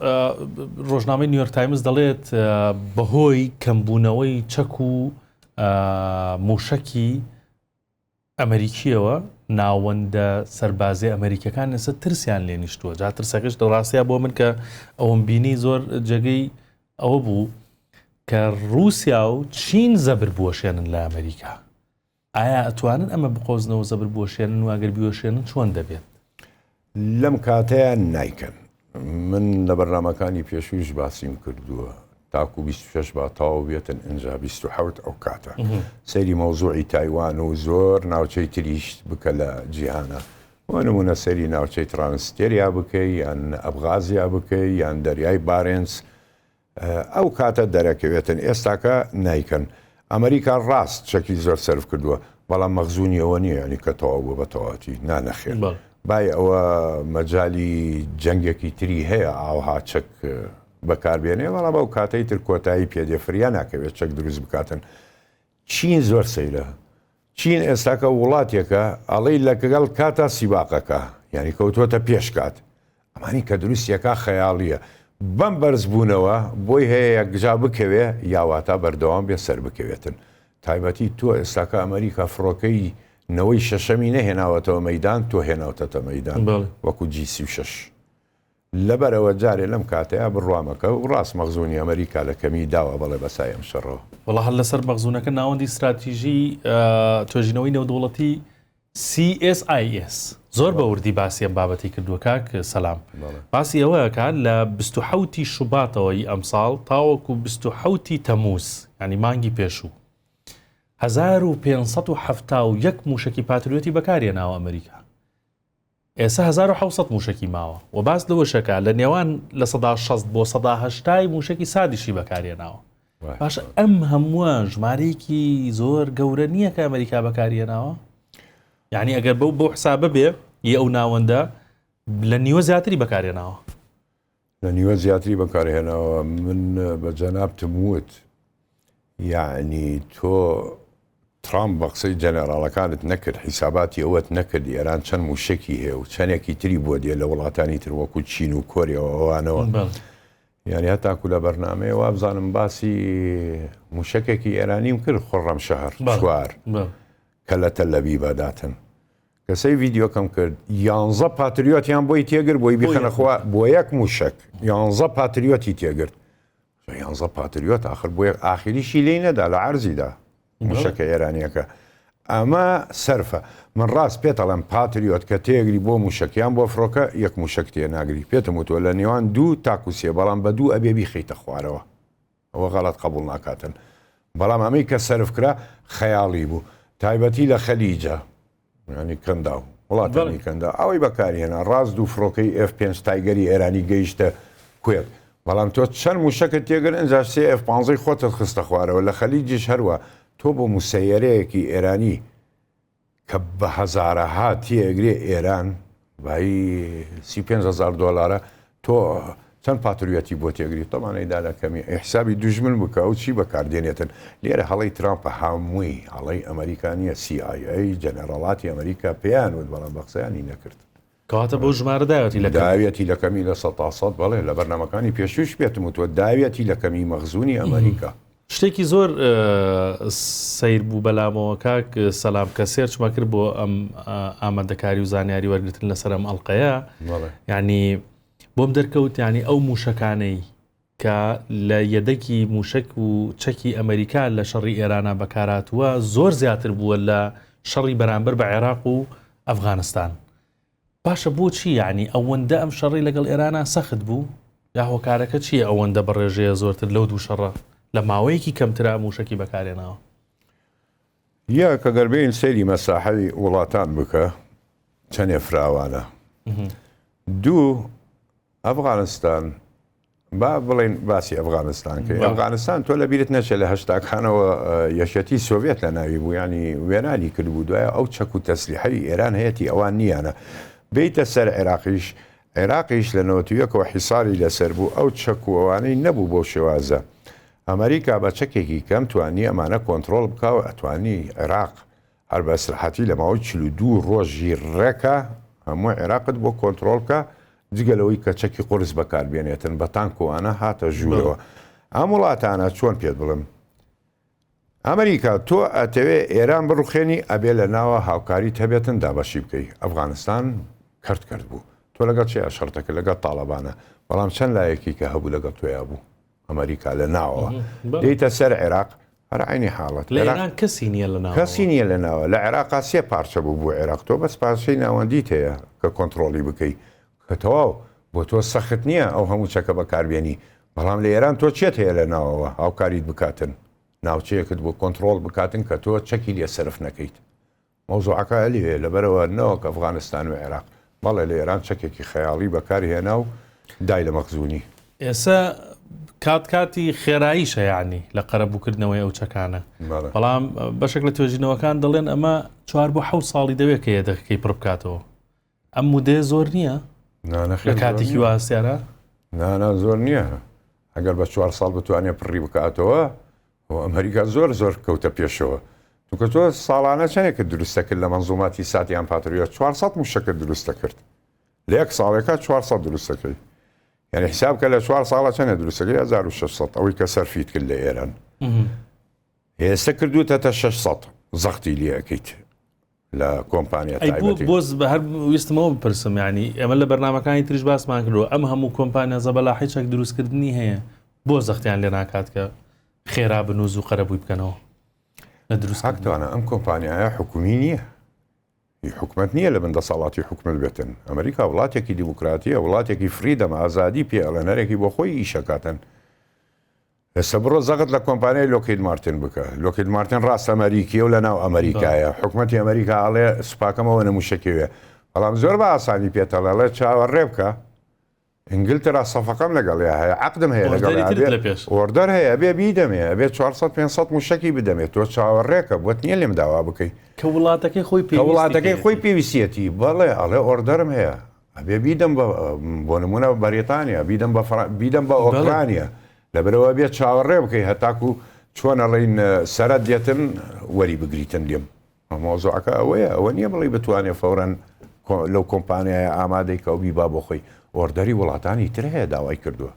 ڕۆژنامەی نیویۆرک تایمز دەڵێت بەهۆی کەمبوونەوەی چەک و موشەکی ئەمریکیەوە ناوەندە سەربازی ئەمریکەکان لەسەر ترسیان لێ نیشتووە جا ترسەکەش دەڕاستەیە بۆ من کە ئەوم بینی زۆر جێگەی ئەوە بوو کە رووسیا و چین زەبر بوەشێنن لە ئەمریکا ئایا ئەتوانن ئەمە بقۆزنەوەو زەبر بوەشێنن و ئەگەر بیوەشێنن چۆن دەبێت؟ لەم کاتەیا نایکەن. من لە بەرنامەکانی پێشوویش باسیم کردووە تاکو بیست و شەش با تەواو بێتن ئینجا بیست و حەوت ئەو کاتە سەیری مەوزوعی تایوان و زۆر ناوچەی تریش بکە لە جیهانە بۆ نموونە سەیری ناوچەی ترانستێریا بکەی یان ئەبغازیا بکەی یان دەریای بارێنس ئەو کاتە دەرەکەوێتن ئێستاکە نایکەن ئەمەریکا ڕاست چەکی زۆر سەرف کردووە بەڵام مەخزونی ئەوە نیە ینی کە تەواو بووە بە تەواوەتی نا نەخێر بای ئەوە مەجای جەنگێکی تری هەیە ئاوها چەک بەکاربێنێ بەڵام ئەو کاتەی تر کۆتایی پێدێ فریا ناکەوێت چەک دروست بکاتن چین زۆر سەیرە چین ئێستاکە ووڵاتێکە ئەڵێی لەکگەڵ کاتا سیباقەکە یانی کەوتوەتە پێش کات ئەمانی کە دروستیەکا خەیاڵیە بەم بەرز بوونەوە بۆی هەیە یەکجا بکەوێ یاواتا بەردەوام بێ سەربکەوێتن تایبەتی تۆ ئێستاکە ئەمەریکا فرۆکەی نەوەی شەشەمی نەهێناوەتەوە مەیدان تۆ هێناوتەتە مەیدان وەکو جی سی و شەش لەبەرئەوە جارێ لەم کاتەیا بڕوامەکە و ڕاست مەخزونی ئەمریکا لە کەمی داوە بەڵێ بەسای ئەم شەڕەوە. وەڵا هەر لەسەر مەخزونەکە ناوەندی ستراتیژی توێژینەوەی نێودەوڵەتی CSIS زۆر بە وردی باسی ئەم بابەتی کردووە کاک سەلام باسی ئەوەکە لە 20 شوباتەوەی ئەمساڵ تاوەکو 20 تەموز ینی مانگی پێشوو 1570 موشکی پاتریۆتی بەکارێ ناوە ئەمریکا ئێستا هەزار و حەوت سەد مووشەکی ماوە و باس لەوەشەکا لە نێوان لە سەدا شەست بۆ سەدا هەشتای مووشەکی سادیشی بەکارهێناوە باش ئەم هەمووە ژمارەیەکی زۆر گەورە نییە کە ئەمریکا بەکارهێناوە یعنی ئەگەر بەو بۆ حسابە بێ ی ئەو ناوەندە لە نیوە زیاتری بەکارێناوە لە نیوە زیاتری بەکارهێناوە من بە جەنابتم وت یعنی تۆ ترامپ بە قسەی جەنەراڵەکانت نەکرد حیساباتی ئەوەت نەکرد ئێران چەند موشەکی هەیە و چەندێکی تری بۆ دێ لە وڵاتانی تر وەکو چین و کۆریەوە ئەوانەوە یعنی هەتاکو لە بەرنمەیە وابزانم باسی موشەکێکی ئێرانیم کرد خڕەم شەهر چوار کە لە تەلەبی بەداتن کە سەی ڤیدیۆکەم کرد یانزە پاتریۆتیان بۆی تێگر بۆی بیخەنەخوا بۆ یەک موشک یانزە پاتریۆتی تێگرت یانزە پاتریۆت آخر بۆ یەک ئاخریشی لی نەدا لە عرزیدا موشەکە ئێرانیەکە ئەمە سەرفە من ڕاست پێ تەڵم پاتریۆت کە تێگری بۆ موشەکیان بۆ فڕۆکە یەک موشک تێ ناگری پێتم وتوە لە نێوان دوو تاکوسێ بەڵام بە دوو ئەبێ بیخیتە خوارەوە ئەوە غەڵەت قەبوڵ ناکاتن بەڵام ئەمەی کە سەرف کرا خەیاڵی بوو تایبەتی لە خەلیجە ینی کەنداو وڵاتانی کەندا ئەوەی بەکارهێنا ڕاست دوو فڕۆکەی ئف پێنج تایگەری ئێرانی گەیشتە کوێت بەڵام تۆ چەند موشەکەت تێگر ئەجا سێ ئف پانزەی خۆتت خستە خوارەوە لە خەلیجیش هەروە تۆ بۆ موسەیەرەیەکی ئێرانی کە بە هەزارەها تێئەگرێ ئێران بایی سی و پێنج هەزار دۆلارە تۆ چەند پاتریۆتی بۆ تێگری تەمان ئەیدا لە کەمی ئەی حسابی دوژمن بکە و چی بەکاردێنێتن لێرە هەڵەی ترامپە هەمووی هەڵەی ئەمەریکا نییە CIA جەنەراڵاتی ئەمەریکا پێیان وت بەڵام بە قسەیانی نەکرد کەواتە بەو ژمارە داوێتی لە کەم. داوێتی لە کەمی لە سەد تا سەد، بەڵێ لە بەرنامەکانی پێشووش پێتم وتووە داوێتی لە کەمی مەخزوونی ئەمەریکا. شتێکی زۆر سەیر بوو بەلامەوە کاک سەلام کە سێرچمە کرد بۆ ئەم ئامادەکاری و زانیاری وەرگتن لەسەر ئەم ئەڵلقەیە یعنی بۆم دەرکەوت ینی ئەو موشەکانەی کە لە یەدەگی مووشەک و چەکی ئەمەریکا لە شەڕی ئێرانا بەکارهاتووە زۆر زیاتر بووە لە شەڕی بەرامبەر بە عێراق و ئەفغانستان باشە بۆچی یعنی ئەوەندە ئەم شەڕی لەگەڵ ئێرانا سەخت بوو یا هۆکارەکە چییە ئەوەندە بەڕێژەیە زۆرتر لەو دوو شەڕە لە ماوەیەکی کەمترا مووشەکی بەکارێناوە یەک ئەگەر بێین سەیری مەساحەی وڵاتان بکە چەنێ فراوانە دوو ئەفغانستان با بڵێن باسی ئەفغانستان کرد ئەفغانستان تۆ لە بیرت نەچێ لە هەشتاکانەوە یەکەتی سۆڤێت لە ناوی بوو ینی وێرانی کرد بوو دوایە ئەو چەک و تەسلیحەوی ئێران هەیەی ئەوان نییانە بیتە سەر عێراقیش عێراقیش لە نەوەتویەکەوە حیساری لەسەر بوو ئەو چەکووانەی نەبوو بۆ شێوازە ئەمەریکا بە چەکێکی کەم توانی ئەمانە کۆنتڕۆڵ بکا و ئەتوانی عێراق هەر بە ئیسراحەتی لە ماوەی چل و دوو ڕۆژی ڕێکە هەموو عێراقت بۆ کۆنتڕۆڵ بکا جگە لەوەی کە چەکی قورس بەکار بێنێتن بە تانک و ئەنا هاتە ژوورەوە ئەم وڵاتانە چۆن پێت بڵێم ئەمەریکا تۆ ئەتەوێ ئێران بڕوخێنی ئەبێ لە ناوە هاوکاریت هەبێتن دابەشی بکەی ئەفغانستان کەرت کرد بوو تۆ لەگەڵ چێ شەڕتەکە لەگەڵ تاڵەبانە بەڵام چەند لایەکی کە هەبوو لەگەڵ تۆیا بوو ئەمەریکا لە ناوەوە دێیتە سەر عێراق هەر عینی حاڵەت لە ئێران کەسی نییە لە ناوەوە. کەسی نییە لە ناوە لە عێراقا سێ پارچە بوو بۆ عێراق تۆ بەس پارچەی ناوەندیت هەیە کە کۆنتڕۆڵی بکەی کە تەواو بۆ تۆ سەخت نییە ئەو هەموو چەکە بەکاربێنی بەڵام لە ئێران تۆ چێت هەیە لە ناوەوە هاوکاریت بکاتن ناوچەیەکت بۆ کۆنتڕۆڵ بکاتن کە تۆ چەکی لێ سەرف نەکەیت مەوزوعەکە هەلی هەیە لەبەرئەوە نەوەک ئەفغانستان و عێراق بەڵێ لە ئێران چەکێکی خەیاڵی بەکار هێنا و دای لە مەخزونی. ئێسە کات کاتی خێراییشە یەعنی لە قەرەبوو کردنەوەی ئەو چەکانە بەڵام بەشێک لە توێژینەوەکان دەڵێن ئەمە چوار بۆ حەوت ساڵی دەوێت کە یەدەکەکەی پڕ بکاتەوە ئەم مودەیە زۆر نییە لە کاتێکی واسیارە نانا زۆر نییە ئەگەر بە چوار ساڵ بتوانێ پڕی بکاتەوە و ئەمریکا زۆر زۆر کەوتە پێشەوە توکە تۆ ساڵانە چەنێکە دروستە کرد لە مەنزوماتی ساتیان پاتریە 400 موشەکە دروستە کرد لە یەک ساڵێکە 400 دروستەکەی یعنی حساب کە لە چوار ساڵە چەنە دروستەکەی 1600 ئەوەی کە سەرفیت کرد لە ئێران هێستا کردوتە تا 600 زەختی لەکەیت لە کۆمپانیا ئەی بۆ تایبەتی. بۆز بە هەر ویستم ئەوە بپرسم یانی ئێمە لە بەرنامەکانی تریش باسمان کردوە ئەم هەموو کۆمپانیا زەبەلاحی چەک دروست کردنی هەیە بۆ زەختیان لێ ناکات کە خێرا بنووز و قەرەبووی بکەنەوە لە دروست کردنی. حەقتانە ئەم کۆمپانیایە حکومی نییە هی حکومەت نییە لە بن دەسەڵاتی حکومەت بێتن ئەمریکا وڵاتێکی دیموکراتیە وڵاتێکی فریدەم ئازادی پێ ئەڵێن هەرێکی بۆ خۆی ئیشەکاتن ئێستا بڕۆ زەقت لە کۆمپانیای لۆکهید مارتین بکە لۆکهید مارتین ڕاست ئەمەریکیە و لە ناو ئەمەریکایە حکومەتی ئەمەریکا ئەڵێ سوپاکەم ئەوەنە موشەکیەوێ بەڵام زۆر بە ئاسانی پێت ئەڵێ ئەڵێ چاوەڕێ بکە ئینگلترا سەفقەم لەگەڵیا هەیە عەقدم هەیە لەگەڵیا ئۆردەری ترت ئەبێ لە پێش ئۆردەر هەیە ئەبێ بیدەمێ ئەبێ 400 500 موشەکی بدەمێ تۆ چاوەڕێکە بۆت نییە لێم داوا بکەی کە وڵاتەکەی خۆی کە پێویستی وڵاتەکەی خۆی پێیەتی پێویستیەتی بەڵێ ئەڵێ ئۆردەرم هەیە ئەبێ بیدەم بە بۆ نمونە بە بەریتانیا بیدەم بە بیدەم بە ئۆکرانیا لەبرەوە بێت چاوەڕێ بکەی هەتاکو چۆنە ڵین سەرەت دێتن وەری بگریتن لێم مۆزوعەکە ئەوەیە ئەوە نییە بڵی بتوانێ فورەن لەو کۆمپانیایە ئامادەی کە و بیبا بۆ خۆی ئۆردەری وڵاتانی تر هەیە داوای کردووە